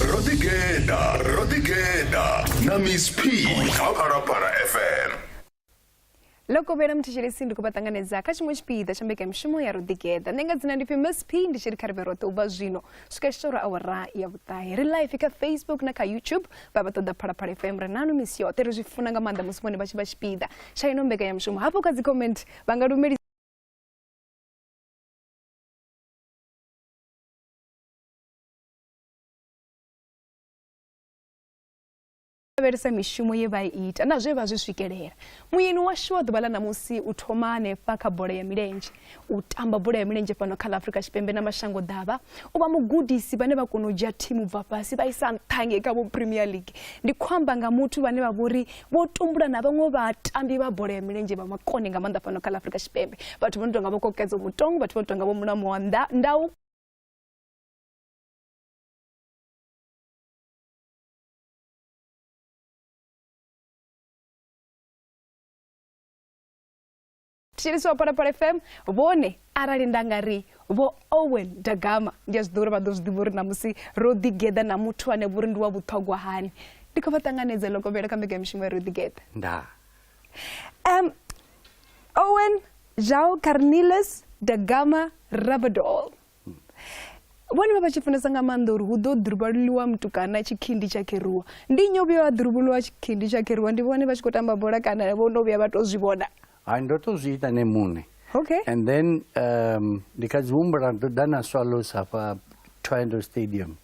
rodigeda rodigeda na miss p kha phalaphala fm loko vhera muthetshelesi ndi khou vha ṱanganedza kha tshiṅwe tshipiḓa tsha mbekanyamushumo ya roḓigeḓa nṋe nga dzina ndi pfi miss p ndi tshi ri kha ri vhe roṱhe u bva zwino swika tshitoro awara ya vhuṱahe ri life kha facebook na kha youtube vha vha ṱoḓa phalaphala fm ri nanu misi yoṱhe ri zwi funa nga maanḓa musi vhone vha tshi vha tshipiḓa tsha ino mbekanyamushumo hafho kha dzi comment vha nga lumelisa lavhelesa mishumo ye vha ita na zwe vha zwi swikelela muyeni washu wa ḓuvha ḽa ṋamusi u thoma hanefha kha bola ya milenzhe u tamba bola ya milenzhe fhano kha ḽa afurika tshipembe na mashango ḓavha u vha mugudisi vhane vha kona u dzhia thimu bva fhasi vha isa nṱhange kha vho premier league ndi khou amba nga muthu vhane vha vhori vho tumbula na vhaṅwe vhatambi vha bola ya milenzhe vha makone nga maanḓa fhano kha ḽa afurika tshipembe vhathu vho no tonga vho kokedzo mutong vhathu vho no tonga vho mulamo wa ndau thetshelesi wa phalaphala fm vhone arali nda nga ri vho owen dagama ndi a zwi ḓo uri vha ḓo zwi ḓivha uri namusi ro ḓigeḓa na muthu ane vhori ndi wa vhuṱhogwa hani ndi khou vha ṱanganedza lokovhela kha mbekanyamishumo ya ro ḓigeḓa nda um owen jao carnilus dagama rabadol vhone vha vha tshi funesa nga maanḓa uri hu ḓo ḓuruvhaluliwa mutukana tshikhindi tsha kheruwa ndi nnyi o vhuya wa ḓuruvhuluwa tshikhindi tsha kheruwa ndi vhone vha tshi khou tamba bola kana vho no vhuya vha tou zwi vhona hai ndo tou zwi ita ne muṋe okay and then um, ndi kha dzi humbula ndo ḓa na swallows hafha triangle stadium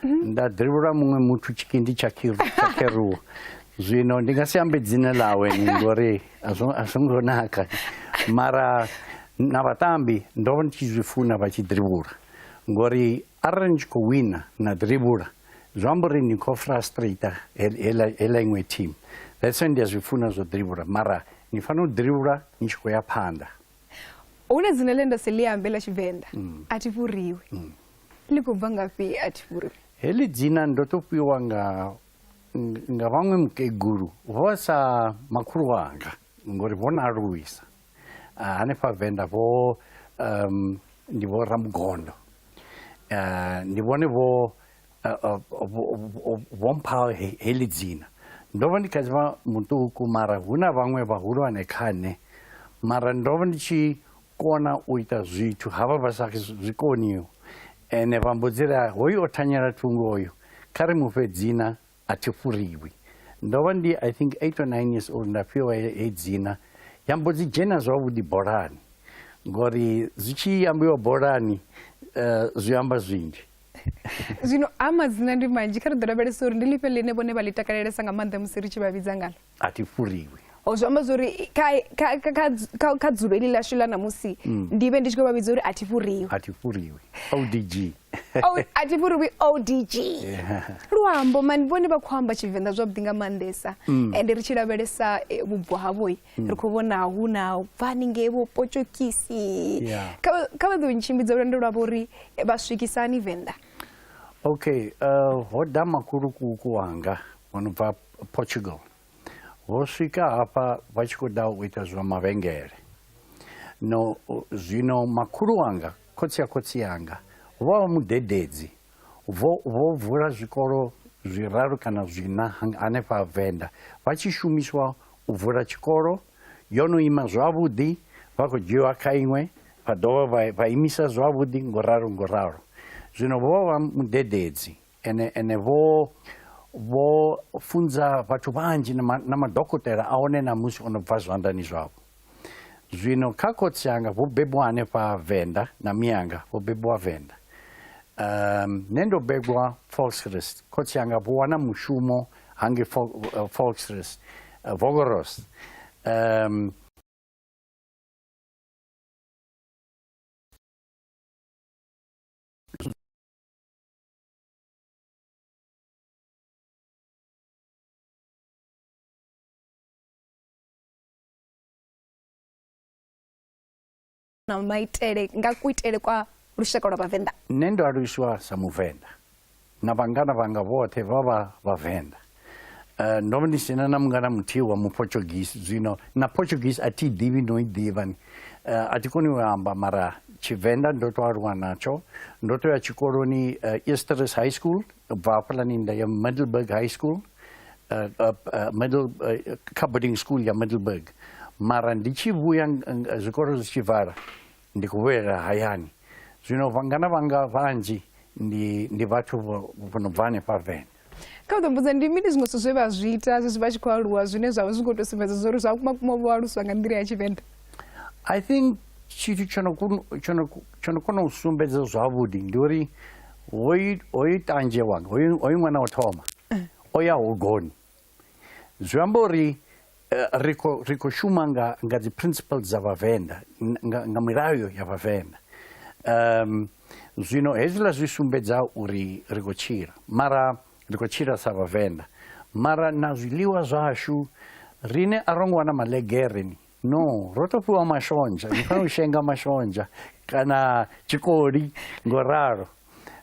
nda ḓivhula muṅwe muthu tshiki ndi tshakheruwa zwino ndi nga si ambe dzina ḽawe ni ngori a zwo ngo naka mara na vhatambi ndo vha ndi tshi zwi funa vha tshi ḓivhula ngori arali ni tshi khou wina na ḓivhula zwi amba uri ni khou frustrator heḽa iṅwe team that's why ndi a zwi funa zwo ḓivhula mara ni fanela u ḓivhula ni tshi khou ya phanḓa hu na dzina ḽe nda si ḽi ambe ḽa tshivenḓa mm. a thi fhuriwi mm. ḽi khou bva ngafhi a thi fhuriwi heḽi dzina ndo to fhiwa nga nga vhaṅwe mukegulu vho sa makhulu wanga ngori vho na aluwisa ah, hanefha venḓa vho um, ndi vho ramugondo ah, ndi vhone vho vho mpha heḽi dzina ndo vha ndi kha dzivha muṱuku mara hu na vhaṅwe vhahulwane kha nṋe mara ndo vha ndi tshi kona u ita zwithu ha vha vha sa zwi koniho ene vha mbo dzi ri hoyu o thanyela thungo oyo kha ri mufhe dzina a thi furiwi ndo vha ndi i think eight or nine years old nda fhiwa he dzina ya mbo dzi dzhena zwavhuḓi bolani ngori zwi tshi ambiwa bolani zwi amba zwinzhi zwino a madzina ndi manzhi kha ri ḓo lavhelesa uri ndi lifhe ḽine vhone vha ḽi takalelesa nga maanḓa musi ri tshi vha vhidza ngalo a thi furiwi o zwi amba zwori kha dzulo ili ḽashu ḽa namusi mm. ndi vhe ndi tshi khou vha vhidza uri a thi furiwi a thi furiwi odg a thi furiwi odg luambo mani vhone vha khou amba tshivenḓa zwavhuḓi nga maanḓesa mm. ende ri tshi lavhelesa eh, vhubvo havhoi ri khou vhona hu na bva haningei vho potshokisi kha vha ḓo ntshimbidza lwendo lwavho uri vha swikisa hani venḓa okay uh, ho da makulukuku wanga o no bva portugal vho swika hafha vha tshi khou ḓa u ita zwa mavhengele no zwino makhulu wanga khotsi ya khotsi yanga vho vha vha mudededzi Vho, vho vula zwikolo zwiraru kana zwiṋa hanefha Venḓa vha tshi shumiswa u vula tshikolo. Yo no ima zwavhuḓi, vha khou dzhiwa kha iṅwe, vha dovha vha, vha imisa zwavhuḓi ngo ralo ngo ralo. Zwino vho vha mudededzi ene, ene vho, vho funza vhathu vhanzhi na, ma, na madokotela a hone ṋamusi o no bva zwanḓani zwavho. Zwino kha khotsi anga vho bebwa hanefha Venḓa na mianga vho bebwa Venḓa. Um, nṋe ndo begwa Volksrust. Khotsi anga vho wana mushumo hange eh, Volksrust, eh, Vogoros. Um, na maitele nga kuitele kwa lushaka lwa vhavenḓa nṋe ndo aluswa sa muvenḓa na vhangana vhanga vhoṱhe vha vha vhavenḓa uh, ndo ndi sina na mungana muthihi wa muportuguese zwino na portuguese a thi ḓivhi no i ḓivha ni uh, a thi koni u amba mara tshivenḓa ndo to aluwa natsho ndo to ya tshikoloni uh, easteris high school bva hafhaḽani nda ya middleburg high school uh, uh, uh, middle, uh, kha boarding school ya middleburg mara ndi tshi vhuya uh, zwikolo zwi tshi vala ndi khou vhuyelela hayani zwino vhangana vhanga vhanzhi ndi ndi vhathu vho no bva hanefha vene kha u ḓo mbudza ndi mini zwiṅwe zwithu zwe vha zwi ita zwezwi vha tshi khou aluwa zwine zwa vha zwi khou tou sumbedza zwa uri zwa kuma kuma vho aluswa nga nḓila ya tshivenḓa i think tshithu tsho no kona u sumbedza zwavhuḓi ndi uri hoyu tanzhewa hoyu ṅwana o thoma o ya hogoni zwi amba uri eh, ri khou ri khou shuma nga nga dzi principles dza vhavenḓa nga, nga milayo ya vhavenḓa um zwino hezwiḽa zwi sumbedza uri ri khou tshila mara ri khou tshila sa vhavenḓa mara na zwiḽiwa zwashu rine a ro ngo wana malegereni no ro to fhiwa mashonzha ni fanela u shenga mashonzha kana tshikoli ngo ralo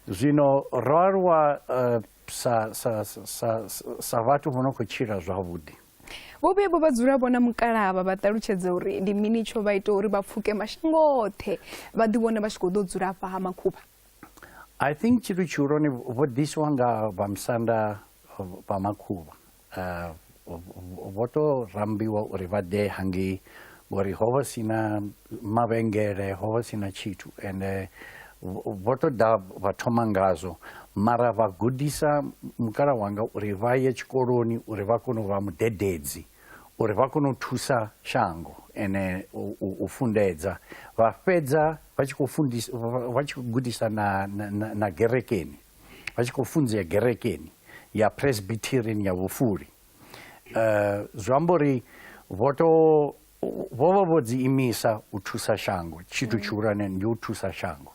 zwino ro aluwa eh, sa, sa, sa, sa vhathu vho no khou tshila zwavhuḓi vhovhuya vho vha dzula vhona mukalaba vha ṱalutshedza uri ndi mini tsho vha ita uri vha pfuke mashango oṱhe vha ḓivhone vha tshi khou ḓo dzula afha ha makhuvha i think tshithu tshihulwane vho ḓisiwa nga vhamusanda vha makhuvha Vho tou rambiwa uri vha ḓe hangei ngori ho vha si na mavhengele ho vha si na tshithu ende vho tou ḓa vha thoma ngazwo mara vha gudisa mukala wanga uri vha ye tshikoloni uri vha kone u vha mudededzi uri vha kone u thusa shango ene u fundedza vha fhedza vha tshi khou fundisa vha tshi khou gudisa na na na gerekeni vha tshi khou funzea gerekeni ya presbyterian ya vhufuli um zwi amba uri vho to vho vha vho dzi imisa u thusa shango tshithu mm. tshihulwane ndi u thusa shango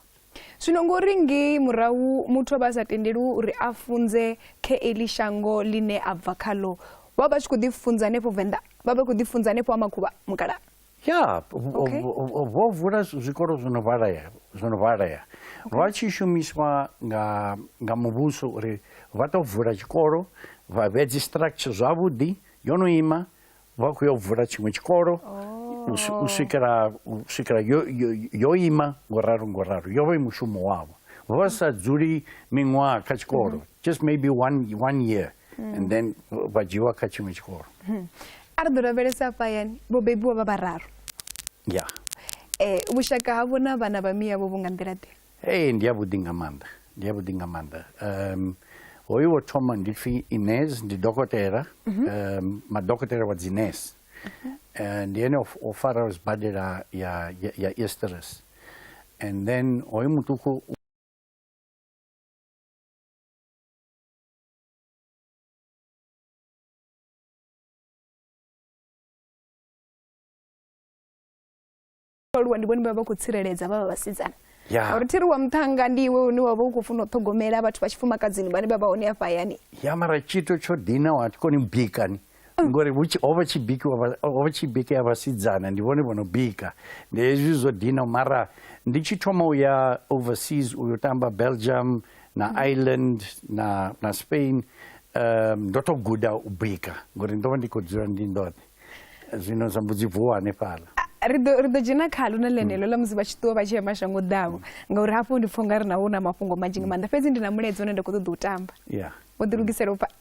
zwino ngori ngei murahu muthu a vha a sa tendeli uri a funze kha eli shango ḽine a bva khaḽo vha vha tshi khou ḓifunza hanefho venḓa vha vha khou ḓifunza hanefho ha makhuvha mukala ya vho vula zwikolo zwo no vhalea zwo no vhalea vha tshi shumiswa nga nga muvhuso uri vha tou vula tshikolo vha vhea dzi structure zwavhuḓi yo no ima vha khou ya u vula tshiṅwe tshikolo u swikela u swikela yo yo ima ngo ralo ngo ralo yo vha i mushumo wavho vha sa dzuli miṅwaha kha tshikolo just maybe one one year mm. and then vha dzhiwa kha tshiṅwe tshikolo mm. a ri ḓo lavhelesa afha yani vho bebiwa vha vhararu ya yeah. eh, vhushaka havho na vhana vha miyavho vho nga nḓila ḓe ee ndi yavhuḓi nga maanḓa ndi yavhuḓi nga maanḓa um hoyu wo thoma ndi pfi ines ndi dokotela mm -hmm. um, madokotela wa dzines mm -hmm. Eh, ndi ene o faraho sibadela ya, ya, ya easteres and then hoyu muṱuku aluwa ndi bone baba kutsireledza baba basizana yeah. uri tiri wa muthanga ndi iwe une wavha u khou funa u ṱhogomela vhathu vha tshifumakadzini vhane vha vha hone afha hayani ya mara tshito tsho dina wa koni bikani mm. ngori ho vha tshi bikiwa ho vha tshi bikea vhasidzana ndi vhone vhono bika ndi hezwi zwo dina mara ndi tshi thoma u ya overseas u yo tamba belgium na mm. ireland na, na spain um, ndo to guda u bika ngori ndo vha ndi khou dzula ndi ndoṱhe zwino zwa mbudzi vuwa hanefhala ri ḓo dzhena khalo na ḽenelo ḽa musi vha tshi ṱuwa vha tshi ya mashango ḓavho ngauri hafho ndi pfha u nga ri naho na mafhungo manzhi nga maanḓa fhedzi ndi na mulaedza une nda khou ṱoḓa u tamba wo ḓilugisela u pfa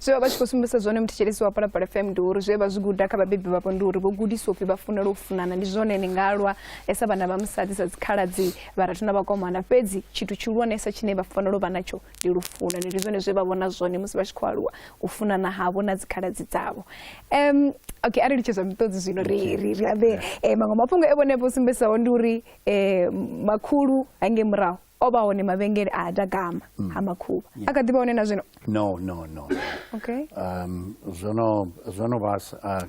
zwe vha vha tshi khou sumbedzisa zwone muthetshelesi wa palapala fm ndi uri zwe vha zwi guda kha vhabebi vhavho ndi uri vho gudiswa upfhi vha funela u funana ndi zwone ni nga lwa sa vhana vha musadzi sa dzikhaladzi vharathu na vhakomana fhedzi tshithu tshihulwanesa tshine vha fanela u vha natsho ndi lufuno ndi zwone zwe vha vhona zwone musi vha tshi khou aluwa u funana havho na dzikhaladzi dzavho um okay a ri litshedzwa miṱodzi zwino ri ri ri ambe eh, maṅwe mafhungo e vhone vho sumbedzisaho ndi uri um makhulu hange murahu o vha hone mavhengele a ha dagama mm. ha makhuvha a kha ḓi vha hone na zwino no no no okay um zwono zwono vha uh,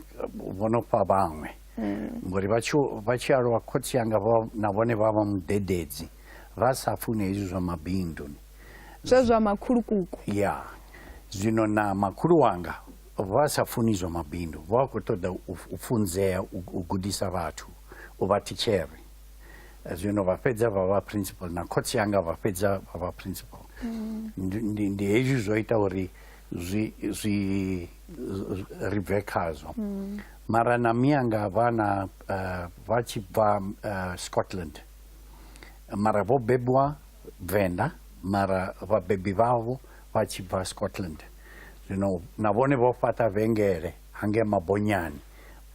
vhono fha vhaṅwe mm. ngori vha tshi vha tshi aluwa khotsi yanga vha na vhone vha vha mudededzi vha sa fune hezwi zwa mabindu ni zwa zwa makhulukuku ya zwino na makhulu wanga vha sa funi zwa mabindu vha khou ṱoḓa u funzea u gudisa vhathu u vha thitshere zwino vha fhedza vha vha principal na khotsi yanga vha fhedza vha vha principal mm. ndi ndi hezwi zwo ita uri zwi zwi ri bve khazwo mm. mara na miyanga vha na eh, vha tshi bva eh, scotland mara vho bebiwa venḓa mara vhabebi vhavho vha tshi bva scotland zwino na vhone vho fhaṱa vhengele hangei ha Mabonyani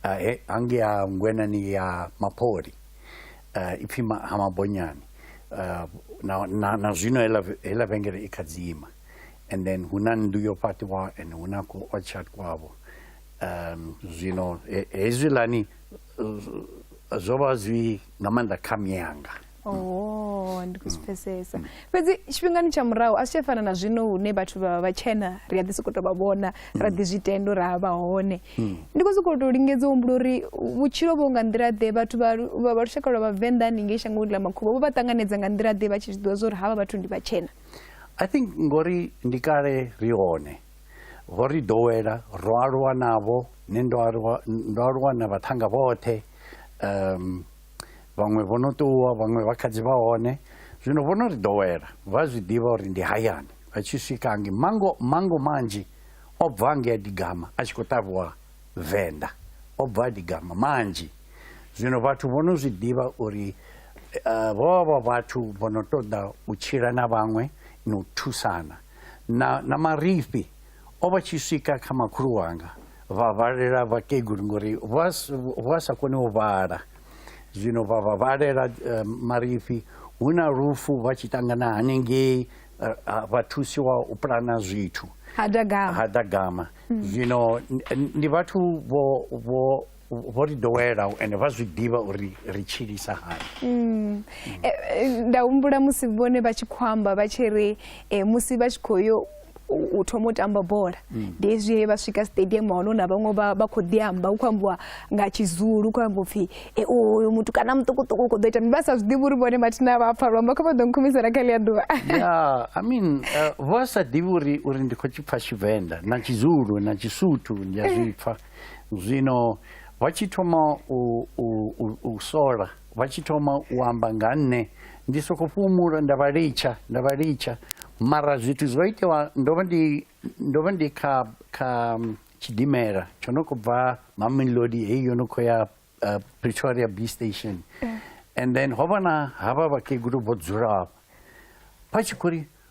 uh, he, hangei ha ngwenani ya Mapoli uh, ipfi ma, ha Mabonyani uh, na, na, na zwino hela, hela vhengele i kha dzima and then hu na nnḓu yo fhaṱiwa and hu na ku orchard kwavho um, zwino hezwilani zwo vha zwi nga maanḓa kha miyanga oh ndi khou zwi pfesesa fhedzi tshifhingani tsha murahu a zwi tsha fana na zwino hune vhathu vha vha tshena ri a ḓi sokou tou vha vhona ra ḓi zwi tenda uri a vha hone ndi khou sokou tou lingedza u humbula uri vhutshilo vho nga nḓila ḓe vhathu vha lu- vha vha lushaka lwa vhavenḓa haningei shangoni ḽa makhuvha vho vha ṱanganedza nga nḓila ḓe vha tshi zwi ḓivha zwa uri havha vhathu ndi vhatshena i think ngori ndi kale ri hone vho ri ḓowela ro aluwa navho nṋe ndo aluwa ndo aluwa na vhaṱhanga vhoṱhe um vhaṅwe vho no ṱuwa vhaṅwe vha kha dzi vha hone zwino vho no ri ḓowela vha zwi ḓivha uri ndi hayani vha tshi swika ngi mango mango manzhi o bva nge a digama a tshi khou ṱavhiwa venḓa o bva a digama manzhi zwino vhathu vho no zwi ḓivha uri eh, vho vha vha vhathu vho no ṱoḓa u tshila na vhaṅwe na u thusana na, na marifhi O vha tshi swika kha makhulu wanga vha vhalela vhakegulu ngori vha sa koni u vhala zwino vha vha vhalela eh, marifhi hu na lufu vha tshi ṱangana hanengei eh, ah, vha thusiwa u pulana zwithu ha dagama hmm. zwino ndi vhathu vho ri dowela ende vha zwi ḓivha uri ri tshilisa hani mm. e, e, nda humbula musi vhone vha tshi khou amba vha tshi ri e, musi vha tshi khou yo u thoma u tamba bola mm. ndi hezwi he vha swika stadium hone hu na vhaṅwe vha khou ḓi amba hu khou ambiwa nga tshizulu hu khou ambiwa upfhi e uyu muthu kana muṱukuṱuku u khou ḓo ita vha sa zwi ḓivhi uri vhone mathina vha pfa luamba kha vha ḓo nkhumisela kha ḽia ḓuvha ya i mean uh, vha sa ḓivhi uri uri ndi khou tshi pfa tshivenḓa na tshizulu na tshisuthu ndi a zwi pfa Zwino vha tshi thoma u, u, u, u sola vha tshi thoma u amba nga nṋe ndi soko fhumula nda vha litsha nda vha litsha mara zwithu zwo itewa ndo vha ndi ndo vha ndi kha kha mm, tshidimela tsho no khou bva mamelodi heyi yo no khou ya uh, pretoria b station mm. and then ho vha na havha vhakegulu vho dzulaho vha tshi khou ri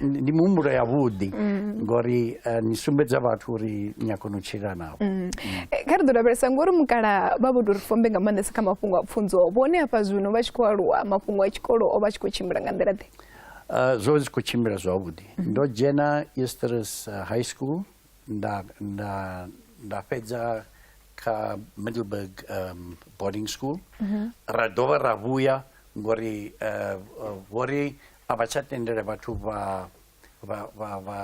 ndi muhumbulo ya vhuḓi mm. ngori eh, ni sumbedza vhathu uri ni a kona u tshila navho mm. eh, kha ri ḓo lavhelesa ngori mukala vha vho tou ri fombe nga maanḓesa kha mafhungo a pfunzo vhone hafha zwino vha tshi khou aluwa mafhungo a tshikolo o vha tshi khou tshimbila nga nḓila ḓe eh, zwo zwi khou tshimbila zwavhuḓi mm. ndo dzhena easters high school nda nda nda fhedza kha middleburg um, boarding school mm-hmm. ra dovha ra vhuya ngori vho ri a vha tsha tendela vhathu vha vha vha vha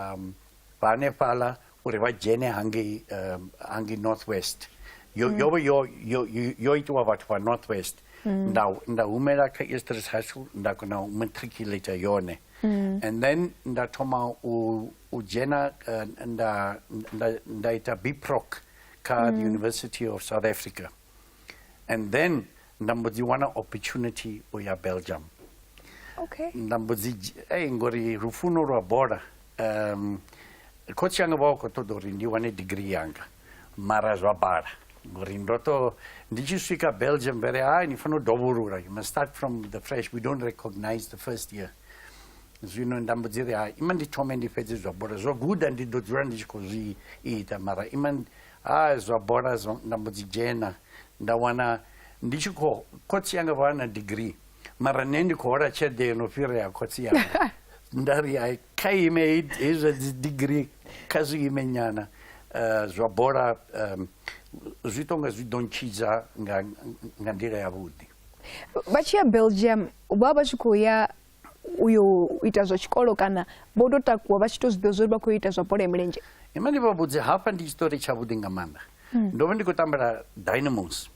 vha hanefhaḽa uri vha dzhene hangei um, hangei north west yo mm. yo yo yo yo itiwa vhathu vha north west mm. nda nda humela kha eastridge high school nda kona u matriculate yone mm. and then nda thoma u u dzhena uh, nda nda nda ita biproc kha the university of south africa mm. and then nda mbo dzi wana opportunity u ya belgium okay. nda mbo dzi ei ngori lufuno lwa bola um khotsi yanga vha khou ṱoḓa uri ndi wane degree yanga mara zwa bala ngori ndo to ndi tshi swika belgium vere hai ni fanela u dovholula you must start from the fresh we don't recognize the first year zwino nda mbo dzi ri hai ima ndi thome ndi fhedze zwa bola zwa guda ndi ḓo dzula ndi tshi khou zwi ita mara ima Haa zwa bola zwo nda mbo dzi dzhena nda wana ndi tshi kho khotsi yanga vha na degree mara nṋe ndi khou hola tshelede yo no fhirea khotsi yanga nda ri hai kha ime hei zwa dzi degree kha zwi ime nyana um zwa bola um zwi tonga zwi ḓo ntshidza nga nga nḓila yavhuḓi vha tshi ya belgium vha vha tshi khou ya u yo ita zwa tshikolo kana vho tou takuwa vha tshi tou zwiḓivha zwori vha khou ita zwa bola ya milenzhe ima ndi vha vhudze hafha ndi tshiṱori tshavhuḓi nga maanḓa hmm. ndo vha ndi khou tambela dynamos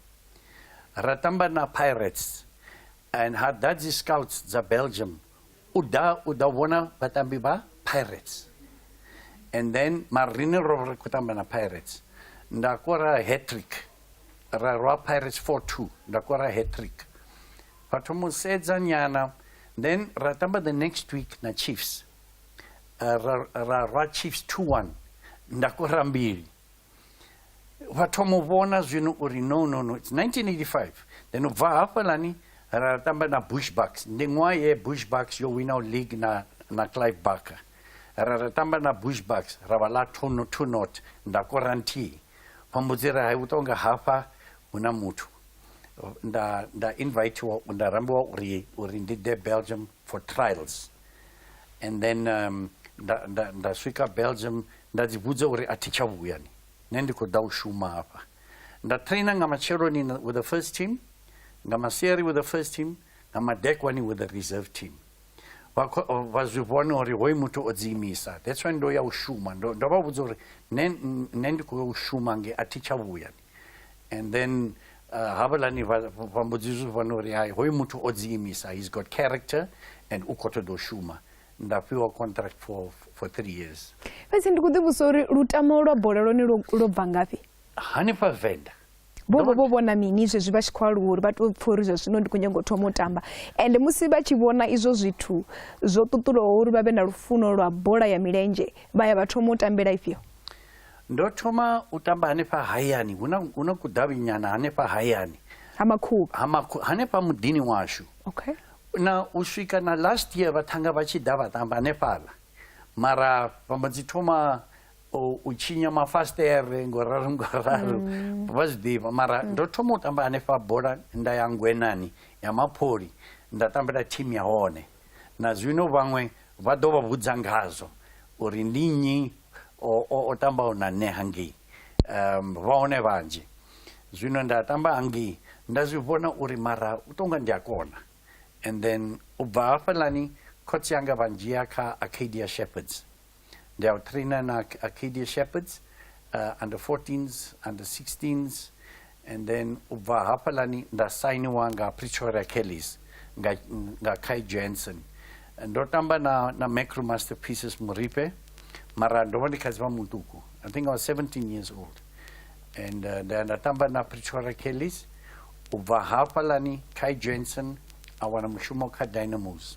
ra tamba na pirates and ha ḓa dzi scouts dza belgium u ḓa u ḓa vhona vhatambi vha pirates and then marine ro ri khou tamba na pirates nda kora hatrick ra rwa pirates 4 2 nda kora hatrick Vha thoma u sedza nyana then ra tamba the next week na chiefs uh, ra, ra rwa chiefs 2-1 nda kora mbili vha thoma u vhona zwino uri no no no 1985 then u bva hafhalani ra tamba na bushbucks ndi ṅwaha ye bushbucks yo winaho league na, na clive barker ra ra tamba na bushbucks ra vha ḽa two not nda kora nthihi vha mbudzira hai u tonga hafha hu na muthu nda nda invitiwa nda rambiwa uri uri ndi ḓe belgium for trials and then um, nda, nda, nda swika belgium nda ḓivhudza uri a thi tsha vhuya ni nṋe ndi khou ḓa u shuma hafha nda trainer nga matsheloni with the first team nga masiari with the first team nga madekwani with the reserve team vha zwi vhona uri hoyu muthu o dziimisa that's why ndo ya u shuma ndo vha vhudza uri nṋe ndi khou ya u shuma nge a thi tsha vhuya ni and then uh, havhalani vambudzi izvi vanori hai hoyu muthu o dziimisa he's got character and u khou ṱoḓa u shuma nda fhiwa contract for, for three years fhedzi ndi khou ḓivhusa uri lutamo lwa bola lone lwo bva ngafhi hanefha venḓa vho vha vho vhona mini zwezwi vha tshi khou aluwa uri vha tou pfha uri zwa zwino ndi khou nyanga u thoma u tamba ende musi vha tshi vhona izwo zwithu zwo ṱuṱulaho uri vha vhe na lufuno lwa bola ya milenzhe vha ya vha thoma u tambela ifhio Ndo thoma u tamba hanefha hayani, hu na, hu na kudavhinyana hanefha hayani ha makhuvha ha makhu, hanefha muḓini washu okay. na u swika na last year vhathanga vha tshi ḓa vha tamba hanefhaḽa mara vha mbo dzi thoma u, u tshinya mafasitere ngo ralo ngo ralo mm. vha zwi ḓivha mara mm. ndo thoma u tamba hanefha bola nda ya ngwenani ya mapholi nda tambela thimu ya hone Na zwino vhaṅwe vha ḓo vha vhudza ngazwo uri ndi nnyi o, o, o tambaho na nṋe hangei. Um, vha hone vhanzhi. Zwino nda tamba hangei, nda zwi vhona uri mara u tou nga ndi a kona. And then u bva hafhaḽani khotsi anga vha ndzhia kha Arcadia Shepherds. They are training our Arcadia Shepherds, under 14s, under 16s, and then u bva hafhaḽani nda sainiwa nga Pretoria Kellies nga, nga Kai Jensen. Ndo tamba na, na Macro Masterpieces Moripe, mara ndo vha ndi kha dzivha mutuku. I think I was 17 years old. And uh, nda nda tamba na Pretoria Kellies, u bva hafhaḽani Kai Jensen a wana mushumo kha Dynamos.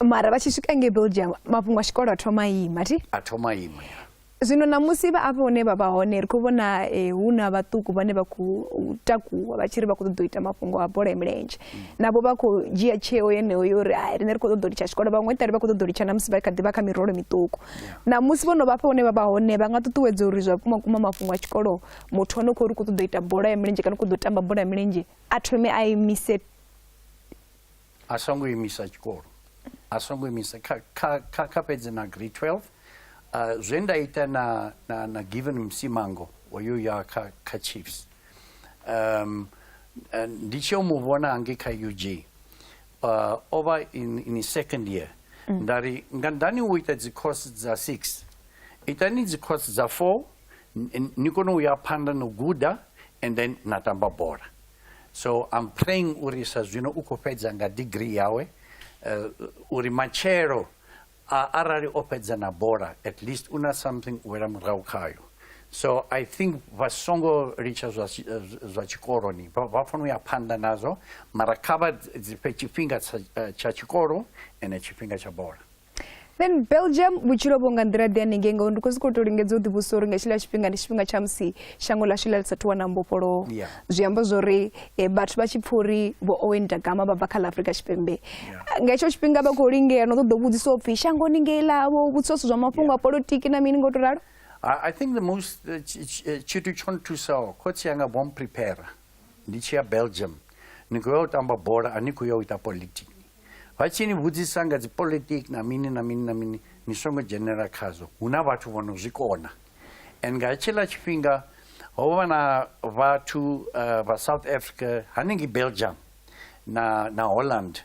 mara vha tshi swika ngei belgium mafhungo a tshikolo a thoma ima ti a thoma ima ya zwino namusi vha afho hune vha vha hone ri khou vhona eh, hu na vhaṱuku vhane vha khou takuwa vha tshi ri vha khou ṱoḓa u ita mafhungo a bola ya milenzhe navho vha khou dzhia tsheo yeneyo yo uri hai riṋe ri khou ṱoḓa u litsha tshikolo vhaṅwe ṱari vha khou ṱoḓa u litsha namusi vha kha ḓi vha kha mirolo miṱuku namusi vho no vha fha hune vha vha hone vha nga ṱuṱuwedza uri zwa vhukuma kuma mafhungo a tshikolo muthu ane khou ri khou ṱoḓa u ita bola ya milenzhe kana u khou ḓo tamba bola ya milenzhe a thome a imise a songo imisa tshikolo a songo imisa kha, kha, kha, kha fhedze na grade 12 uh, ah, zwe nda ita na, na, na given msimango oyo ya kha, kha chiefs um, eh, ndi tshi yo mu vhona hangei kha ug uh, ah, o vha in, in second year mm. nda ri nga ndani u ita dzicourse dza six itani dzicourse dza four ni kone u ya phanḓa no guda and then na tamba bola so I'm praying uri sa zwino u khou fhedza nga degree yawe uh, uri matshelo uh, arali o fhedza na bola at least una something u wela murahu khayo so i think vha songo litsha zwa, zwa tshikoloni vha fanela u ya phanḓa nazwo mara kha vha fhe tshifhinga tsha tshikolo ene tshifhinga tsha bola then belgium vhutshilo vho nga nḓila ḓi haningei ngauri ndi khou zwi khou tou lingedza u ḓivhusa uri nga tshiḽa tshifhinga ndi tshifhinga tsha musi shango ḽashu ḽa lisathu wana mbofholowo zwi amba zwa uri eh, vhathu vha tshi pfha uri vho owen dagama vha bva kha ḽa afrika tshipembe nga hetsho tshifhinga vha khou lingea no ṱoḓa u vhudzisa u pfhi shangoni ngei ḽavho vhudzisa zwithu zwa mafhungo a politiki na mini ngo to ralo i think the most eh, eh, tshithu tsho nthusaho khotsi yanga vho mprepara ndi tshi ya belgium ni khou ya u tamba bola a ni khou ya u ita politiki Vha tshi ni vhudzisa nga dzipolitiki na mini na mini na mini ni songo dzhenela khazwo hu na vhathu vho no zwi kona and nga tshiḽa tshifhinga ho vha na vhathu eh, vha south africa hanengei belgium na, na holland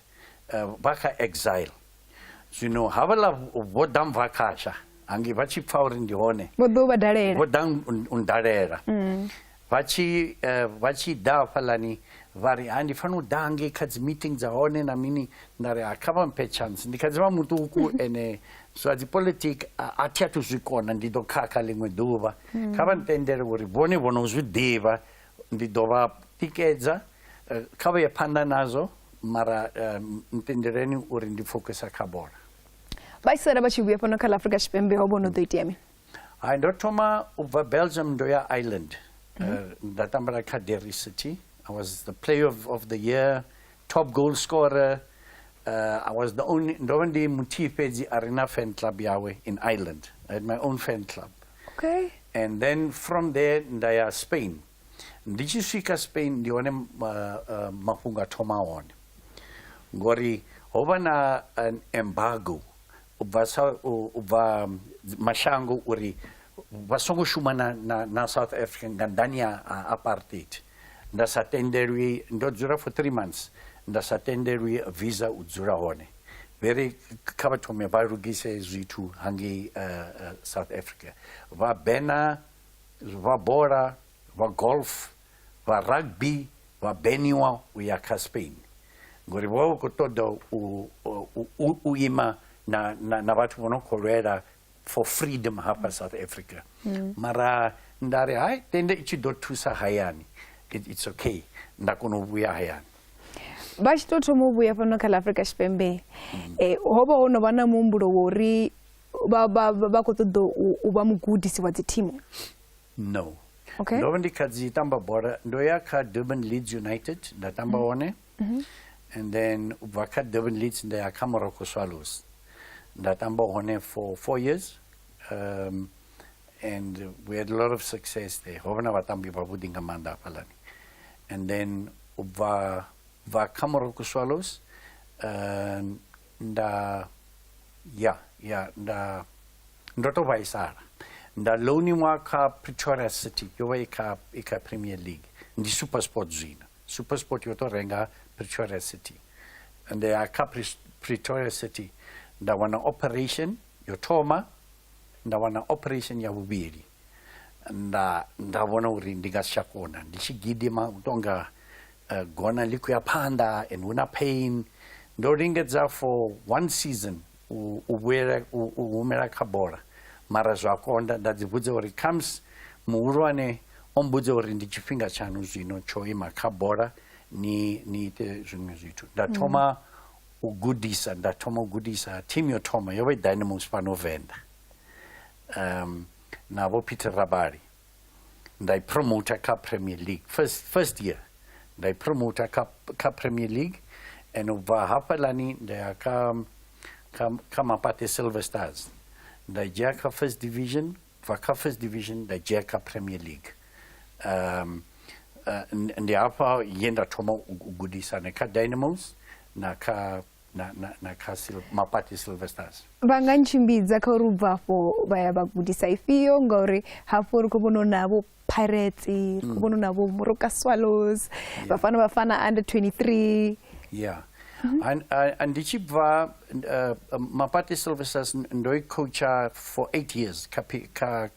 eh, vha kha exile zwino havhaḽa vho ḓa mva khasha hangi vha tshi pfa uri ndi hone vho ḓa u vha dalela vho ḓa u ndalela mm. Vha tshi, uh, vha tshi ḓa hafhaḽani vha ri ha ndi fanela u ḓa ngei kha dzi meeting dza hone na mini nda ri ha kha vha mphe chance ndi kha dzi vha muṱuku ene zwa dzi politic a thi athu zwi kona ndi ḓo khakha ḽiṅwe ḓuvha hmm. kha vha ntendele uri vhone vho no zwi ḓivha ndi ḓo vha tikedza eh, kha vha ye phanḓa nazwo mara eh, ntendeleni uri ndi fokisa kha bola vhaisala vha tshi vhuya fhano kha ḽa afrika tshipembe ho vho no ḓo itea mini Hai, ndo thoma u bva Belgium ndo ya Ireland. Mm -hmm. uh, nda tambela kha Derry City. I was the player of, of the year, top goal scorer. Uh, I was the only, ndo vha ndi muthihi fhedzi a re na fan club yawe in Ireland. I had my own fan club. Okay. And then from there nda ya Spain. Ndi tshi swika Spain ndi hone uh, uh, mafhungo a thoma hone. Ngori ho vha na an embargo u bva sa u bva mashango uri vha songo shuma na na na South Africa nga nḓani ya apartheid nda sa tendelwi ndo dzula for 3 months nda sa tendelwi visa u dzula hone vheri kha vha thome vha lugise zwithu hangei eh, eh, south africa vha bena vha bola vha golf vha rugby vha beniwa u ya kha spain ngori vho vha vha khou ṱoḓa u ima na, na, na vhathu vho no khou lwela for freedom hafha south africa mm. mara nda ri hai tende i tshi ḓo thusa hayani it's okay nda kona u vhuya hayani vha tshi tou thoma u vhuya fhano kha ḽa afrika tshipembe mm. eh, ho vha ho no vha na muhumbulo wa uri vha khou ṱoḓa u vha mugudisi wa dzithimu no okay. ndo vha ndi kha dzi tamba bola ndo ya kha durban leads united nda tamba mhm. one mm -hmm. and then u bva kha durban leads nda ya kha morocco swallows nda tamba hone for four years um, and we had a lot of success there ho vha na vhatambi vhavhuḓi nga maanḓa hafhaḽani and then u bva bva kha morocco swallows um, nda ya ya nda ndo tou vhaisala nda loaniwa kha pretoria city yo vha i kha i kha premier league ndi supersport zwino supersport yo tou renga pretoria city and ya kha pretoria city nda wana operation yo thoma nda wana operation ya vhuvhili nda nga vhona uri ndi nga si tsha kona ndi tshi gidima u tonga uh, eh, gona ḽi khou ya phanḓa and hu na pain ndo lingedza for one season u, u vhuyela u, u humela kha bola mara zwa konda nda dzi vhudza uri comes muhulwane o mbudza uri ndi tshifhinga tshaṋu zwino tsho ima kha bola ni ni ite zwiṅwe zwithu nda thoma mm. u gudisa nda thoma u gudisa team yo thoma yo vha i dynamos fhano venḓa um, na vho peter rabali nda i promota kha premier league first, first year nda i promota kha, kha premier league and u bva hafhalani nda ya kha, kha, kha mapate silver stars nda dzhia kha first division bva kha first division nda dzhia kha premier league um, uh, ndi hafha ye nda thoma u gudisane kha dynamos na kha na, na, na kha sil, mapati silver stars vha nga ntshimbidza kha uri u bva afho vha ya vha gudisa ifhio ngauri hafho ri khou vhona u navho pirates ri khou mm. vhona u navho moroka swallows yeah. vhafana vhafana under 23 yeah mm -hmm. ndi tshi bva uh, mapati silver stars ndo i coacha for eight years kha, kha,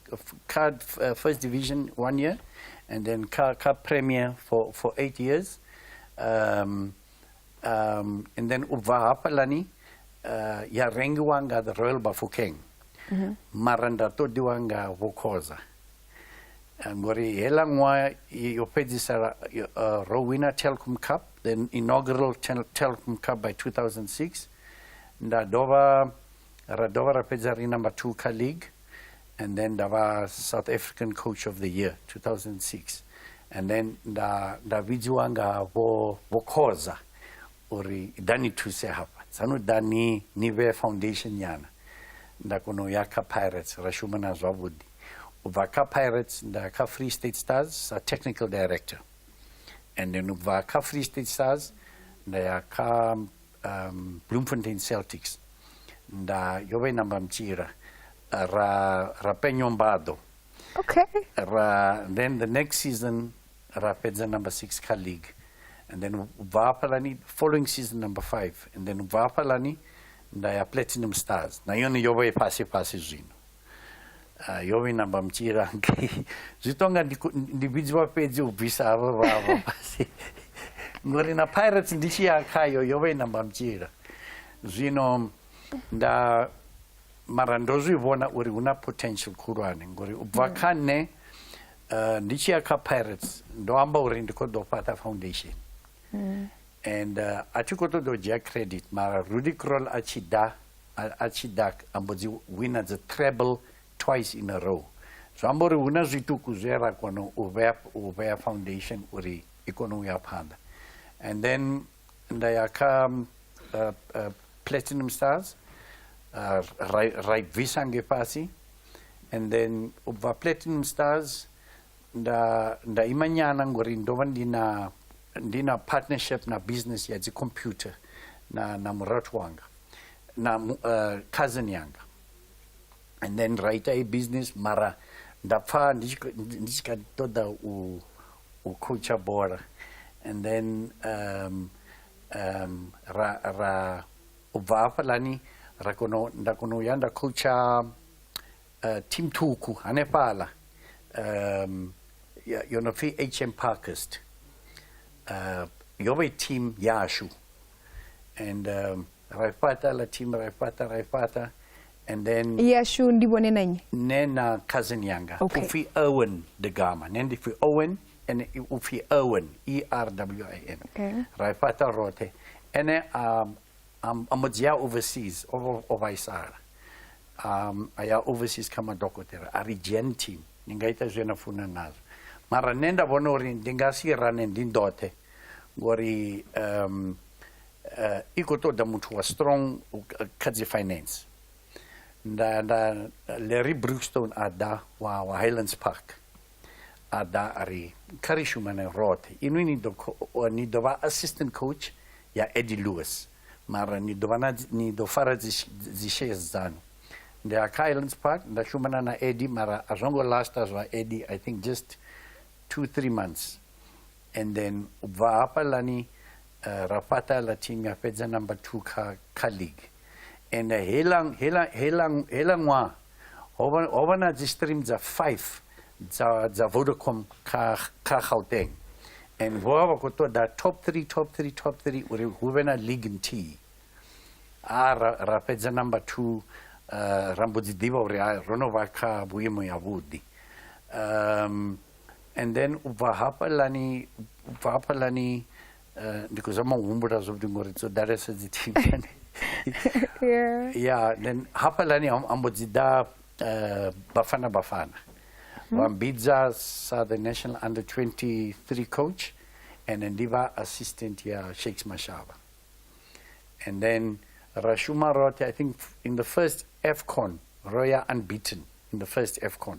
kha uh, first division one year and then kha, kha premier for, for eight years um, Um, and then op Wahapalani, uh, ya rengiwanga the Royal Bafokeng. Mm -hmm. Mara nda todiwanga Vokoza. Eh, ngori hela ṅwaha yo fhedzisela uh, ro wina telcom cup the inaugural telcom cup by 2006 nda dovha Ar y dofar a phedair un am y Two Car League, and then da fa South African Coach of the Year, 2006. And then da, da vidziwa nga vho, vho khoza uri da ni thuse hafha tsano da ni, ni vhe foundation nyana nda kona u ya kha pirates ra shuma na zwavhuḓi u bva kha pirates nda ya kha free state stars sa technical director and then u bva kha free state stars nda ya kha um, Bloemfontein Celtics nda yo vha i namba mtshila ra ra penyo mbado okay ra then the next season ra fhedza number 6 kha league and then ubva hafhalani following season number 5 and then ubva hafhalani nda ya platinum stars na yone yo vha i fhasi fhasi zwino Ah, yo vhina mba mutshila ngei zwi to nga ndi vhidziwa fhedzi u bvisa havho vhavho fhasi ngori na pirates ndi tshi ya khayo yo vha i namba mutshila zwino nda mara ndo zwi vhona uri hu na potential khulwane ngori u bva mm. kha nṋe eh, ndi tshi ya kha pirates ndo amba uri ndi khou ḓo fhaṱa foundation and a tshi khou ṱoḓa u dzhia credit mara rudy crol a tshi ḓa a tshi ḓa a mbo dzi wina dzi treble twice in a row zwi amba uri hu na zwiṱuku zwe ra kona u vhea u vhea foundation uri i kone u ya phanḓa and then nda ya kha uh, uh, platinum stars uh, ra i bvisa nge fhasi and then u bva platinum stars Nda, nda ima nyana ngori ndo vha ndi na ndi na partnership na business ya dzicomputer na, na murathu wanga na uh, cousin yanga and then ra ita i business mara nda pfa ndi tshi kha ṱoḓa u u khoutsha bola and then um, um, ra, ra u bva hafhaḽani ra kono nda kono u ya nda khoutsha Uh, Tim Tuku, hanefhala. Um, yo no pfi hm parkist uh, yo vha i team yashu and um, ra i fhaṱa la team ra i fhaṱa ra i fhaṱa and then yashu ndi vhone na nnyi nṋe na cousin yanga okay. u pfi owen de gama nṋe ndi pfi owen and u pfi owen e r w i n okay. ra i fhaṱa roṱhe ene um, um, a mu dzhia overseas o, o vhaisala um, a ya overseas kha madokotela a ri gentin ni nga ita zwe na funa nazwo mara nṋe nda vhona uri ndi nga si rane ndi ndoṱhe ngori um, uh, i khou ṱoḓa muthu wa strong kha dzi finance nda nda larry brookstone a ḓa wa, wa highlands park ada ari kari shumane road inu ni do ni do va assistant coach ya Eddie Lewis mara ni do vana ni do fara dzi shares dzanu ndi a kha Islands Park nda shumana na Eddie mara a zwo ngo last zwa Eddie i think just 2 3 months And then ubva hapa lani uh, Rafata Latin ya fedza number 2 kha kha league. And uh, hela hela hela hela ṅwaha hova hova na dzi stream dza 5 dza dza Vodacom kha kha Gauteng. And vho vha khou ṱoḓa top 3 top 3 top 3 uri hu vhe na league nthihi. A ra, ra fedza number 2 uh, ra mbo dzi ḓivha uri ro no vha kha vhuimo yavhuḓi. Um and then u bva hafhalani u bva hafhalani eh, ndi khou zama u humbula zwavhuḓi ngori dzo ḓalesa dzi thingani ya then hafhalani a mbo dzi ḓa eh, bafana bafana hmm. vha mbidza sa the national under 23 coach and then ndi vha assistant ya shakes mashaba and then ra shuma roṱhe i think in the first fcon ro ya unbeaten in the first fcon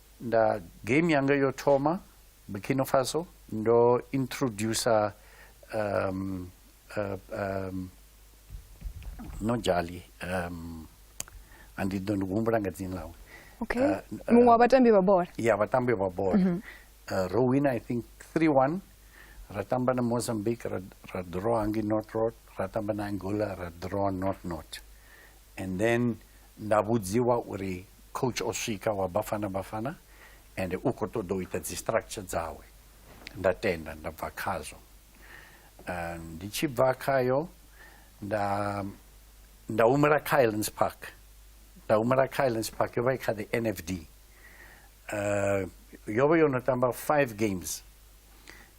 Nda game yanga yo thoma Burkina Faso ndo introducer um, uh, um, no jali um, andi ḓo ndi humbula nga dzini ḽawe okay. uh, uh, muṅwe wa vhatambi vha bola ya vhatambi vha bola mm -hmm. uh, ro wina i think 3-1 ra tamba na mozambique ra, ra draw hangi north road ra tamba na angola ra draw north north and then Nda vhudziwa uri coach o swika wa Bafana Bafana and u khou ṱoḓa u ita dzi structure dzawe nda tenda nda bva khazwo eh, ndi tshi bva khayo nda nda humela kha Islands Park nda humela kha Islands Park yo vha i kha the NFD uh, eh, yo vha yo no tamba five games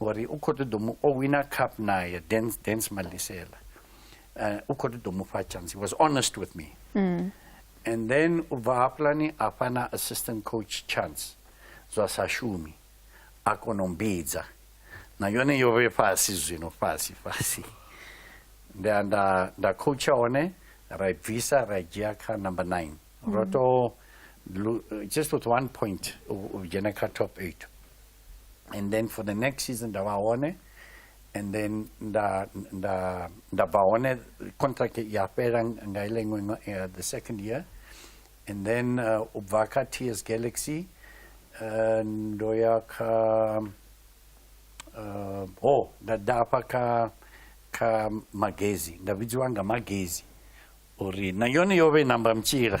ngori u khou ṱoḓa mu o wina cup naye dance dance malisela uh, u khou ṱoḓa mu fha chance he was honest with me mm. and then u bva hafhulani a fha na assistant coach chance zwa sa shumi a kona u mbidza na yone yo vhe fhasi zwino fhasi fhasi nda nda nda coacha hone ra i bvisa ra i dzhia kha number nine ro mm. to just with one point u dzhena kha top eight and then for the next season nda vha hone and then nda nda nda bva hone contract ya fhela nga ile iṅwe uh, the second year and then uh, u bva kha ts galaxy uh, ndo ya kha uh, oh nda dafha kha kha magezi nda vhidziwa nga magezi uri na yone yo vhe namba mtshila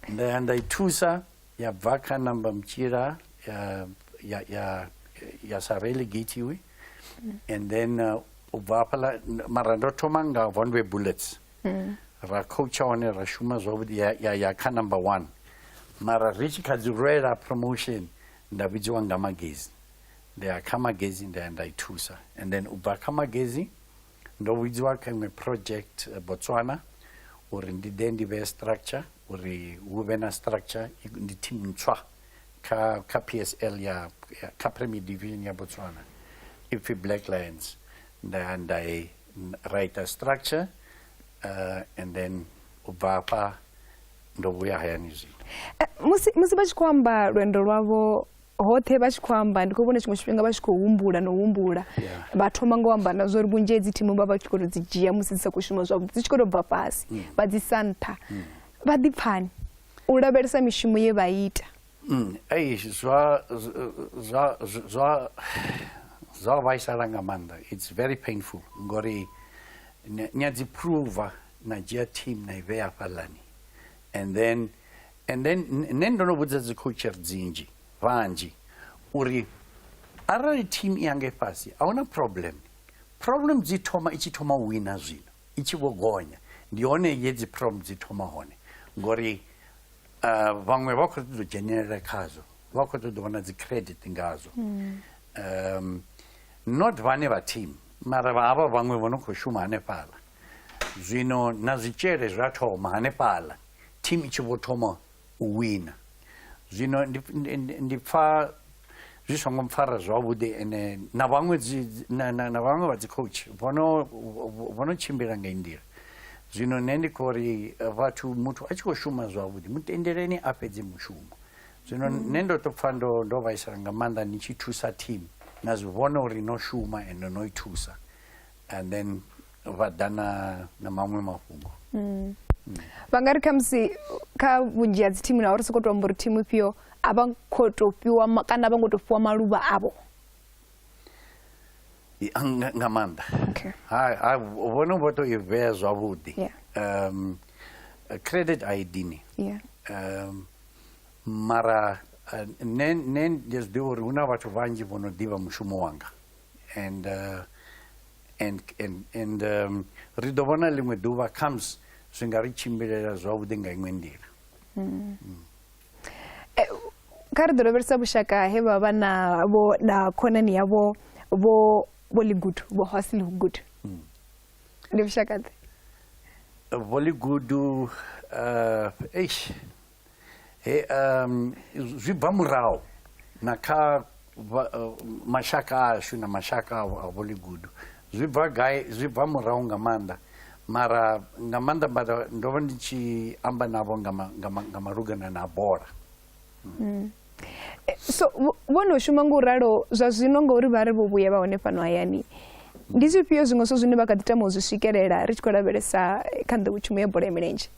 nda ya nda i thusa ya bva kha number mtshila ya ya ya ya sa relegate we mm. and then uh, u bva hafhala mara ndo thoma nga vonwe bullets mm. ra coacha hone ra shuma zwavhuḓi ya, ya, ya kha number one mara ri tshi kha dzi rwela promotion nda vhidziwa nga magazine nda ya kha magazine nda ya nda i thusa and then u bva kha magazine Ndo vhudziwa kha iṅwe project eh, Botswana uri ndi ḓe ndi vhe structure uri hu vhe na structure ndi team ntswa kha kha PSL ya kha Premier Division ya Botswana ipfi Black Lions nda nda write a structure uh, and then u bva afha ndo vhuya hayani zwino eh, musi musi vha tshi khou amba lwendo lwavho hoṱhe vha tshi khou amba ndi khou vhona tshiṅwe tshifhinga vha tshi khou humbula na u humbula vha thoma nga u amba na zwa uri vhunzhi hedzi thimu vha vha tshi khou to dzi dzhia musi dzi sa khou shuma zwavhuḓi dzi tshi khou to bva fhasi mm. vha dzi sa nṱha mm. vha ḓi pfani u lavhelesa mishumo ye vha ita mm. ei zwa zwa zwa zwa vhaisala nga maanḓa it's very painful ngori ni a dzi pruva na dzhia team na i vhea fhaḽani and then and then nṋe ndo no vhudza dzi coacher dzinzhi vhanzhi uri arali team i yanga ifhasi a huna problem problem dzi thoma i tshi thoma u wina zwino i tshi vho gonya ndi hone ye dzi problem dzi thoma hone ngori uh, vhaṅwe vha khou ṱoḓa u dzhenelela khazwo vha khou ṱoḓa vhona dzi credit ngazwo mm. um, not vhane vha team mara vha havha vhaṅwe vho no khou shuma hanefhaḽa zwino na zwitshele zwa thoma hanefhaḽa team i tshi vho thoma u wina zwino ndi pfa zwi songo mpfara zwavhuḓi ene na vhaṅwe na vhaṅwe vha dzi coach vho no tshimbila nga i nḓila zwino nṋe ndi khou ri eh, vhathu muthu a tshi khou shuma zwavhuḓi mutendeleni a fhedze mushumo zwino mm. nṋe ndo to pfa ndo ndo vhaisala nga maanḓa ni tshi thusa team na zwi vhona uri no shuma ende no i thusa and then vha ḓa na na maṅwe mafhungo mm. Mm. vha nga ri khamusi kha vhunzhi ha dzithimu na uri sokou tou amba uri thimu ifhio a vha khou tou fhiwa kana a vha ngo tou fhiwa maluvha avho nga maanḓa ha vhone vho tou i vhea zwavhuḓi um credit i d ni um mara eh, nṋe nṋe ndi zwi ḓivha uri hu na vhathu vhanzhi vho no ḓivha mushumo wanga And, uh, and, and, and um, ri ḓo vhona ḽiṅwe ḓuvha comes zwi nga ri tshimbilela zwavhuḓi nga iṅwe nḓila mm. Mm. Eh, kha ri ḓo lavhelesa vhushaka he vha vha na vho na khonani yavho vho vho ligudu vho hosi ligudu mm. ndi vhushaka ḓe vho ligudu uh, eish He, um, zwi bva muraho na kha uh, mashaka ashu na mashaka a boligudu zwi bva gai zwi bva muraho nga maanḓa mara nga maanḓa mara ndo vha ndi tshi amba navho nga malugana na bola mm. eh, so vho no shuma nga u ralo zwa zwino ngauri vha ri vho vhuya vha hone fhano hayani ndi zwifhio zwiṅwe zwo zwine vha kha ḓi tama u zwi swikelela ri tshi khou lavhelesa kha nḓowetshumo ya bola ya milenzhe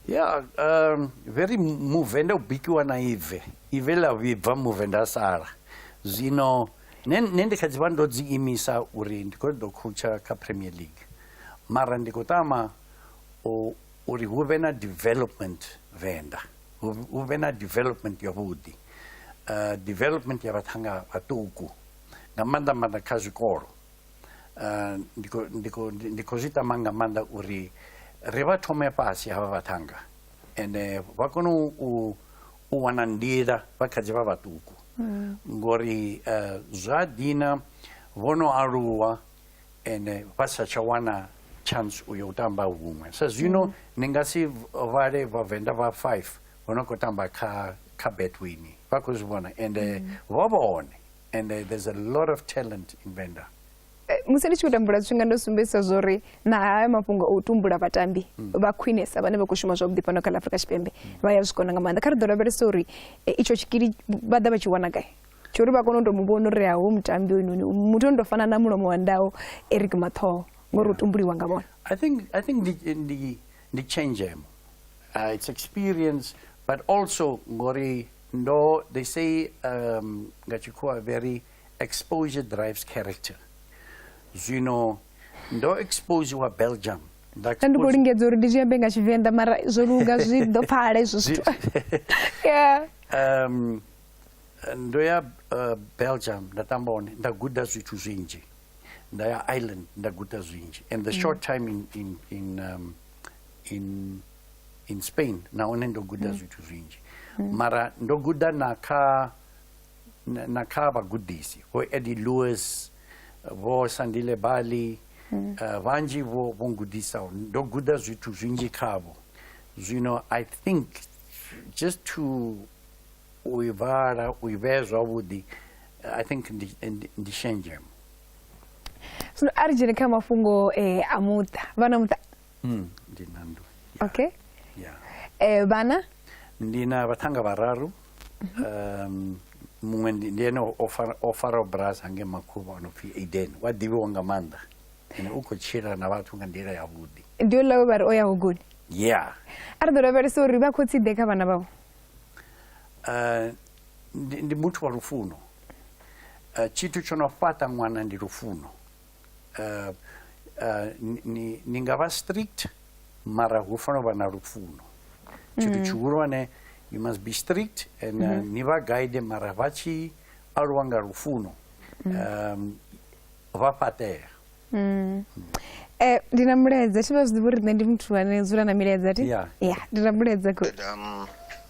ya um, vhe ri muvenda u bikiwa na ive ive ḽa vhibva muvenda sala zwino ne ndi kha dzi vha ndo dzi imisa uri ndi khou ḓo khoutsha kha premier league mara ndi khou tama uri hu vhe na development venda hu vhe na development yavhuḓi uh, development ya vhathanga vhaṱuku nga maanḓa maanḓa kha zwikolo uh, ndi khou zwi tama nga maanḓa uri ri vha thome fhasi havha vhaṱhanga ende vha kone u wana nḓila vha kha dzi vha vhaṱuku mm. ngori uh, zwa dina vho no aluwa ende vha sa tsha wana chance u yo u tamba huṅwe sa zwino mm. ni nga si vhale vhavenḓa vha five vho no khou tamba kha kha betwini vha khou zwi vhona ende mm. vho vhone and uh, there's a lot of talent in Venda. Eh, musi ndi tshi khou tambula zwifhinga ndo sumbedzisa zwo ri na haya mafhungo o u tumbula vhatambi hmm. vha khwinesa vhane vha khou shuma zwavhuḓi fhano kha ḽa afrika tshipembe hmm. vha ya zwi kona nga maanḓa kha ri ḓo lavhelesa uri eh, itsho tshikili vha ḓa vha tshi wana gai tsho uri vha kone u tou mu vhona uri haho mutambi oynoni muthu ono tou fana na mulomo wa ndawo eric mathoho ngori u tumbuliwa nga vhona i think, I think ndi, ndi, ndi changemo uh, it's experience but also ngori No, they say um, nga tshikhuwa very exposure drives character zwino ndo expose wa belgium nda ndi khou lingedza uri ndi zwi ambe nga tshivenḓa mara zwo luga zwi ḓo pfala izwo zwithu yeah um ndo ya uh, belgium nda tamba hone nda guda zwithu zwinzhi nda ya ireland nda guda zwinzhi and the mm. short time in, in, in um, in, in spain na hone ndo guda mm. zwithu zwinzhi mm. mara ndo guda na kha na, na kha vhagudisi vho eddie lewis vho sandile bali mm. uh, vhanzhi vho vho ngudisaho ndo guda zwithu zwinzhi khavho zwino i think just to u i vhala u i vhee zwavhuḓi i think ndi, ndi, ndi shenzhemo zwino a ri dzhene kha mafhungo eh, a muṱa vhana muṱa Mm, ndi na nndwa okay ya eh, vhana ndi na vhaṱhanga vhararu um, muṅwe ndi ndi ene o fara- o faraho brasa hange makhuvha o no pfi aden wa ḓivhiwa nga maanḓa ene u khou tshila na vhathu nga nḓila yavhuḓi ndi uḽa we vha ri o ya hugoni ya a ri ḓo lavhelesa uri vha khotsi ḓe kha vhana vhavho Eh, ndi ndi muthu wa lufuno Eh, tshithu tsho no fhaṱa ṅwana ndi lufuno uh, uh, ni, ni nga vha strict mara hu fanela u vha na lupfuno tshithu mm. tshihulwane you must be strict and uh, mm-hmm. ni vha guide mara vha tshi aluwa nga lufuno mm. um, vha fhaṱea mm. eh, ndi na mulaedza tshi vha zwi ḓivha uri nṋe ndi muthu ane dzula na milaedza ti ya ndi na mulaedza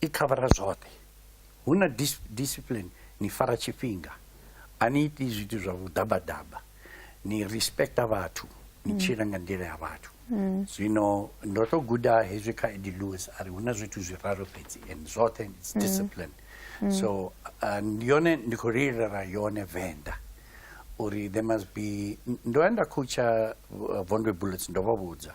I khavara zwoṱhe. Hu na discipline, ni fara tshifhinga, a ni iti zwithu zwa vhuḓabaḓaba, ni respecta vhathu, ni mm. tshila nga nḓila ya vhathu. Mm. Zwino ndo to guda hezwi kha Eddie Lewis a ri hu na zwithu zwiraru fhedzi and zwoṱhe it's mm. discipline. So uh, ndi yone ndi khou lilela yone Venḓa uri there must be ndo ya nda khutsha uh, Vondwe Bullets ndo vha vhudza.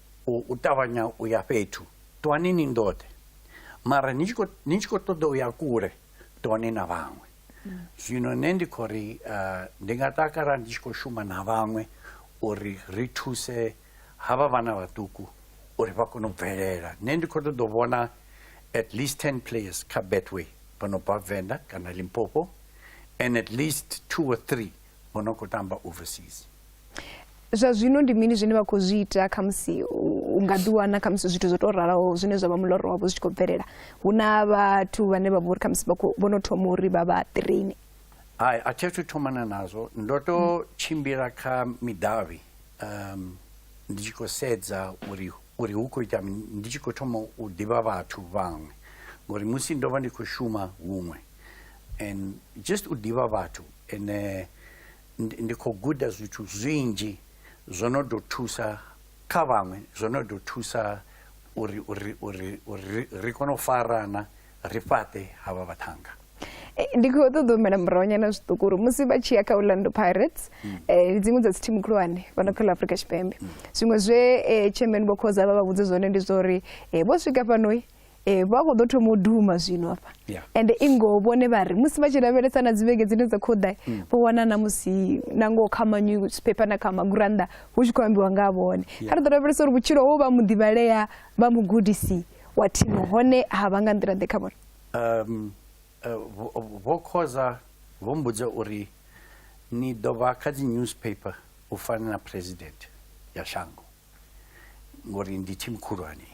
u, u ṱavhanya u ya fhethu ṱwani ni ndoṱhe mara ni tshi khou ṱoḓa u ya kule ṱwani na vhaṅwe zwino nṋe ndi khou ri eh, ndi nga takala ndi tshi khou shuma na vhaṅwe uri ri thuse havha vhana vhaṱuku uri vha kone u bvelela nṋe ndi khou ṱoḓa u vhona at least ten players kha betway vha no bva venḓa kana limpopo and at least two or three vho no khou tamba overseas zwa zwino ndi mini zwine vha khou zwi ita khamusi u nga ḓiwana khamusi zwithu zwo tou ralaho zwine zwa vha muloro wavho zwi tshi khou bvelela hu na vhathu vhane vha vha uri khamusi vho no thoma uri vha vha traine hai a thi athu thomana nazwo ndo to hmm. tshimbila kha midavhi um ndi tshi khou sedza uri uri hu khou ita ndi tshi khou thoma u ḓivha vhathu vhaṅwe ngori musi ndo vha ndi khou shuma huṅwe and just u ḓivha vhathu Nṋe ndi khou guda zwithu zwinzhi zwo no ḓo thusa kha vhaṅwe, zwo no ḓo thusa uri uri uri uri ri kone u farana, ri fhaṱe havha vhaṱhannga. Ndi khou ṱoḓa u humela murahu nyana zwiṱuku uri musi vha tshi ya kha Orlando Pirates mm. eh, ndi dziṅwe dza dzi thimu khulwane fhano kha ḽa Afrika Tshipembe. Mm. Zwiṅwe zwe eh, chairman vho khoza vha vha vhudze zwone ndi zwa uri eh, vho swika fhano Eh, vha khou ḓo thoma u duma zwino afha ende i ngoho vhone vha ri musi vha tshi lavhelesa na dzivhege dzine dza khou ḓa mm. vho wana na musi na ngoho kha manyusiphepha na kha magurannḓa hu tshi khou ambiwa nga vhone kha ri ḓo lavhelesa uri vhutshilo ho vha muḓivhalea vha mugudisi wa thimo hone ha vha nga nḓila ḓe kha vhone um eh, vho khoza vho mbudza uri ni ḓo vha kha dzi newspaper u fana na president ya shango ngori ndi thimu khulwane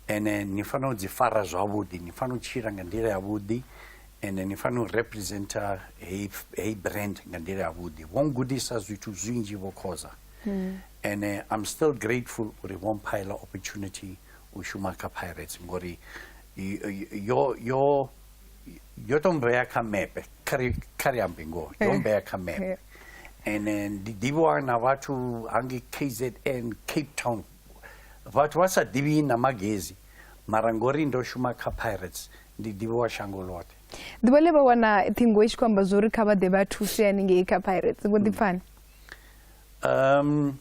ene ni fanela u dzi fara zwavhuḓi ni fanela u tshila nga nḓila yavhuḓi ende ni fanela u representa heyi hey brand nga nḓila yavhuḓi vho ngudisa zwithu zwinzhi vho khoza hmm. ene i'm still grateful uri vho mphaela opportunity u shuma kha pirates ngori yo yo yo to mvea kha mepe khari khari ambi ngo yo eh. mvea kha mepe eh. and then the diwa na vatu angi KZN Cape Town vatu wasa divi na magezi marangori ndo shuma kha pirates ndi diwa shango lote ḓuvha ḽe vha wana ṱhingo i tshi khou amba zwo uri kha vha ḓe vha thuse haningei kha pirates ngo ḓi pfani um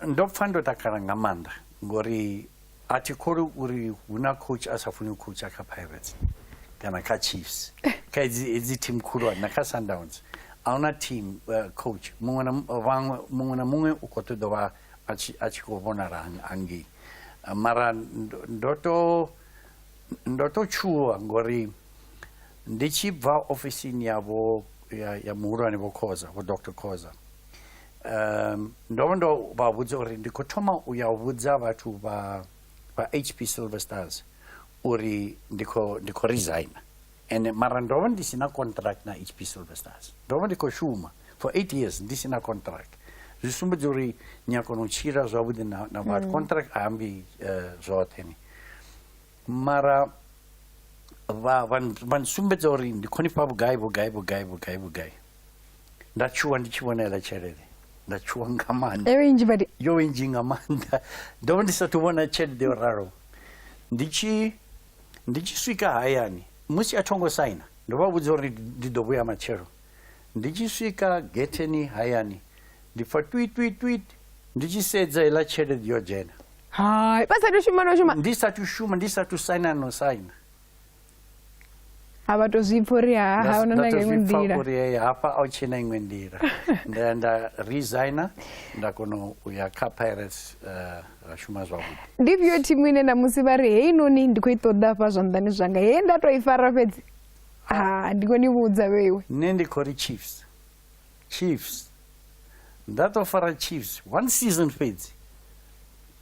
ndo pfa ndo takala nga maanḓa ngori a thi kholi uri hu na coach a sa funi u coacha kha pirates kana kha chiefs kha edzi team khulwane na kha sundowns a hu na team uh, coach muṅwe na vhaṅwe muṅwe na muṅwe u khou ṱoḓa vha a tshi khou vhonala hangei uh, mara ndo to ndo to tshuwa ngori ndi tshi bva ofisini yavho ya muhulwane vho khoza vho dr khoza um ndo vha ndo vha vhudza uri ndi khou thoma u ya u vhudza vhathu vha vha hp silver stars uri ndi khou ndi khou resigna and mara ndo vha ndi si na contract na hp silver stars ndo vha ndi khou shuma for eight years ndi si na contract zwi sumbedza uri ni a kona u tshila zwavhuḓi na na vhathu hmm. contract a ambi eh, zwoṱhe ni mara vha vha nsumbedza uri ndi khonifha vhugai vhugai vhugai vhugai vhugai nda tshuwa ndi tshi vhona iḽa tshelede nda tshuwa nga maanḓa yo inzhi badi yo inzhi nga maanḓa ndo vha ndi sathu vhona tshelede yo ralo ndi tshi ndi tshi swika hayani musi a thongo saina ndo vha vhudza uri ndi ḓo vhuya matshelo ndi tshi swika getheni hayani ndi pfa twitwitwit ndi tshi sedza iḽa tshelede yo dzhena hai vha sathu shuma no shuma ndi sathu shuma ndi sathu saina no saina a vha to zwipfa uri ha huna na iṅwe nḓila uri hey hafha a u tshena iṅwe nḓila nda nda resigner nda kona u ya kha pirates eh, ra shuma zwavhuḓi ndi vyo thimu ine na musi vha ri heyi noni ndi khou i ṱoḓa hafha zwanḓani zwanga he nda to i fara fhedzi ha ndi khou ni vhudza vheiwe nṋe ndi khou ri chiefs chiefs ndatofara chiefs one season fedzi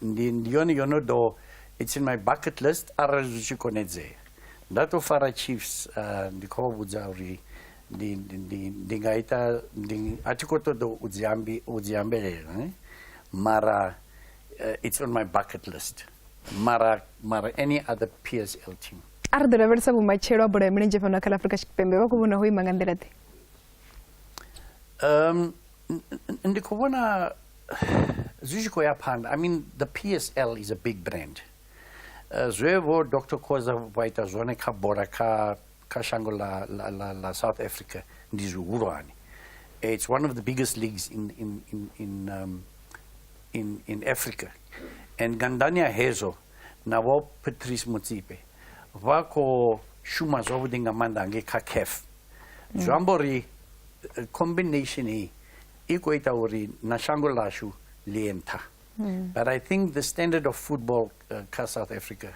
ndi ndiyone yono do it's in my bucket list arali zwi tshi konedzea ndatofara chiefs uh, ndi khou vha vhudza uri ndi, ndi, ndi, ndi nga ita ndi, a thi khou ṱoḓa u dzi ambi- u dzi ambelela ne? mara uh, it's on my bucket list mara mara any other psl team a ri ḓo lavhelesa vhumatshelo ha bola ya milenzhe fhano kha ḽa afurika tshipembe vha khou vhona ho ima nga nḓila ḓe um, ndi khou vhona zwi tshi khou ya phanḓa i mean the psl is a big brand uh, zwe vho dr khoza vha ita zwone kha bola kha kha shango la, la, la, la south africa ndi zwihulwane it's one of the biggest leagues in, in, in, in, um, in, in africa and gandania hezwo na vho patrice mutsipe vha khou shuma zwavhuḓi nga maanḓa ngei kha caf zwi amba uri eh, combination hii i khou ita uri na shango ḽashu ḽi ye nṱha hmm. but i think the standard of football uh, kha south africa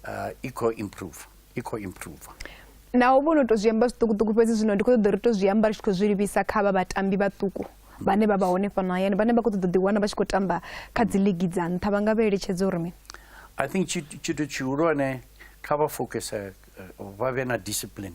uh, i khou improve i khou improve naho vho no tou zwi amba zwiṱukuṱuku fhedzi zwino ndi khou ṱoḓa uri to zwi amba ri tshi khou zwi livhisa kha vha vhatambi vhaṱuku vhane vha vha hone fhano hayani vhane vha khou ṱoḓa ḓiwana vha tshi khou tamba kha dzi ligi dza nṱha vha nga vha eletshedza uri mini i think tshithu tshihulwane kha vha focuse eh, vha vhe na discipline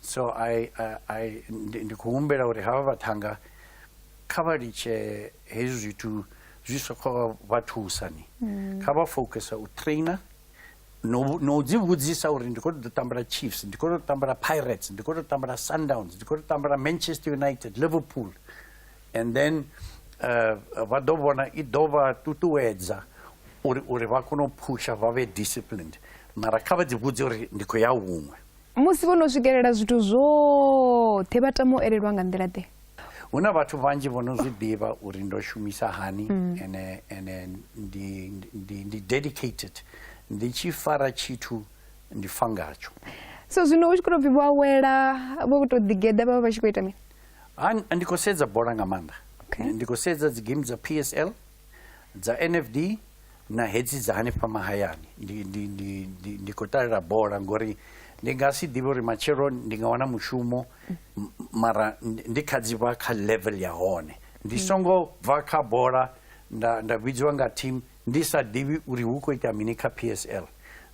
So I, uh, I, ndi khou humbela uri havha vhaṱhanga kha vha litshe hezwi zwithu zwi soko vha thusa ni mm. kha vha focusa u trainer no no dzi vhudzisa uri ndi khou ṱoḓa tambela chiefs ndi khou ṱoḓa tambela pirates ndi khou ṱoḓa tambela sundowns ndi khou ṱoḓa tambela manchester united liverpool and then uh, vha ḓo vhona i ḓo vha ṱuṱuwedza uri uri vha kone u phusha vha vhe disciplined mara kha vha dzi vhudze uri ndi khou ya huṅwe Musi vho no swikelela zwithu zwoṱhe vha tama u elelwa nga nḓila-ḓe? Hu na vhathu vhanzhi vho no zwi ḓivha uri ndo shumisa hani mm. ene ene ndi ndi ndi dedicated ndi tshi fara tshithu ndi fa ngatsho so zwino u tshi khou tou pfhi vho awela vho tou ḓigeḓa vha vha vha tshi khou ita mini ndi khou sedza bola nga maanḓa ndi khou sedza dzi game dza psl Dza NFD na hedzi dza hanefha mahayani ndi, ndi, ndi, ndi, ndi khou ṱalela bola ngori ndi nga si ḓivhe uri matshelo ndi nga wana mushumo mara ndi kha dzi vha kha level ya hone ndi mm. songo bva kha bola nda, nda vhidziwa nga team ndi sa ḓivhi uri hu khou ita mini kha p s l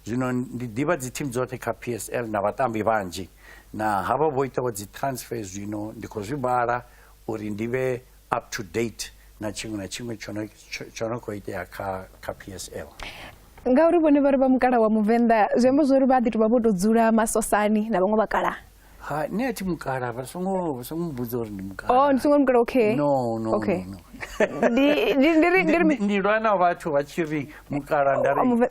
zwino ndi ḓivha dzi team dzoṱhe kha p s l na vhatambi vhanzhi na havha vho itaho dzi transfer zwino ndi khou zwi vhala uri ndi vhe up to date na tshiṅwe na tshiṅwe tsho no khou itea kha kha psl ngauri vhone vha ri vha mukala wa muvenḓa zwi amba zwo ri vha ḓi to vha vho to dzula masosani na vhaṅwe vhakala ha nṋe a thi mukala vha songo vha songo mbudza uri ndi mukala oh ndi songo mukala okay no no okay ndi ndi ndi ndi lwa na vhathu vha tshi ri mukala nda ri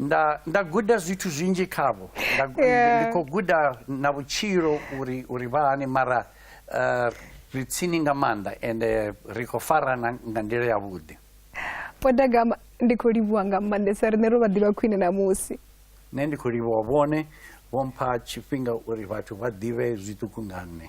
nda nda guda zwithu zwinzhi khavho ndi khou guda na vhutshilo uri uri vha hani mara eh, ri tsini nga maanḓa ende eh, ri khou farana nga nḓila yavhuḓi podagama ndi khou livhuwa nga maanḓesa riṋe ro vha ḓivha khwine ṋamusi nṋe ndi khou livhuwa vhone vho mpha tshifhinga uri vhathu vha ḓivhe zwiṱuku nga nṋe